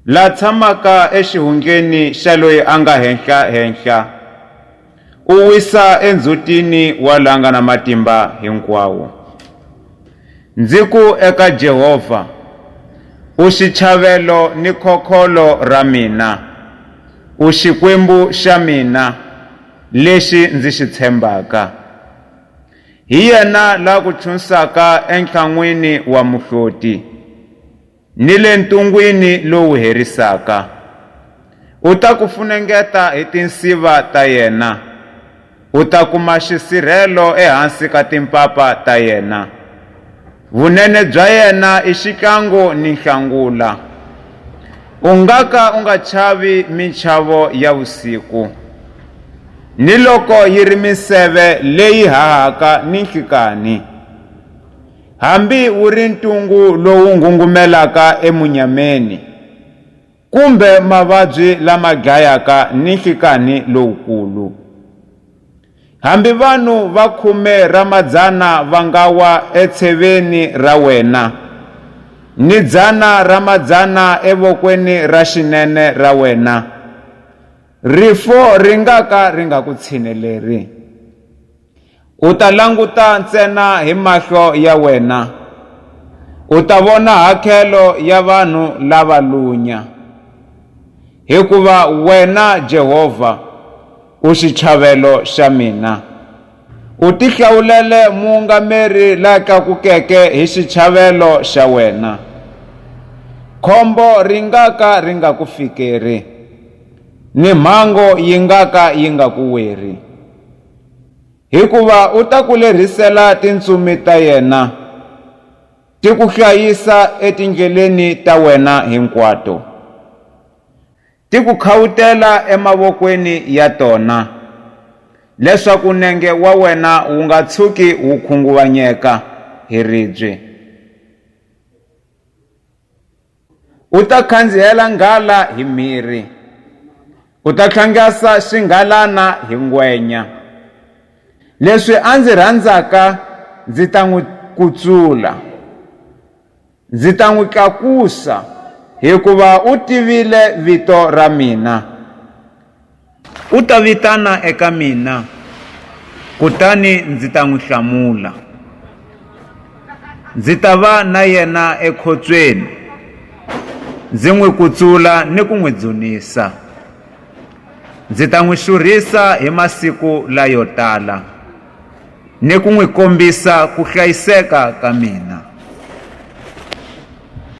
La tshamaka exihundleni xa loyi a nga henhla-henhla, u wisa endzhutini wa la nga na matimba hinkwawo. Ndzi ku eka Jehovha, U xichavélo ni khokholo ra mina, u Xikwembu xa mina, lexi ndzi xi tshembaka. Hi yena la ku chunsaka entlhan'wini wa muhloti. ni le ntungwini lowu herisaka. U ta ku funengeta hi tinsiva ta yena, u ta kuma xisirhelo ehansi ka timpapa ta yena. Vunene bya yena i xihlangu ni nhlangula. U nga ka u nga chavi minchavo ya vusiku, ni loko yi ri minseve leyi hahaka ninhlikanhi. hambi wu ri ntungu lowu nghungumelaka emunyameni, kumbe mavabyi lama dlayaka ni nhlikanhi lowukulu. Hambi vanhu va khume ra madzana va nga wa etsheveni ra wena, ni dzana ra madzana evokweni ra xinene ra wena, rifu ri nga ka ri nga ku tshineleri. U ta languta ntsena hi mahlo ya wena, u ta vona hakhelo ya vanhu lava lunya, hikuva wena Jehovha u xitlhavelo xa mina. U tihlawulele muungameri la tlakukeke hi xitlhavelo xa wena. Khombo ri nga ka ri nga ku fikeri, ni mhango yi nga ka yi nga ku weri. hikuva u ta ku lerhisela tintsumi ta yena, ti ku hlayisa etindleleni ta wena hinkwato, ti ku khawutela emavokweni ya tona, leswaku nenge wa wena wu nga tshuki wu khunguvanyeka hi ribye. U ta khandziyela nghala hi mhirhi, u ta tlhangasa xinghalana hi ngwenya. Leswi a ndzi rhandzaka ndzi ta n'wi kutsula, ndzi ta n'wi tlakusa, hikuva u tivile vito ra mina. U ta vitana eka mina, kutani ndzi ta n'wi hlamula. Ndzi ta va na yena ekhotsweni, ndzi n'wi kutsula ni ku n'wi dzunisa. Ndzi ta n'wi xurhisa hi masiku layo tala, ni ku n'wi kombisa ku hlayiseka ka mina.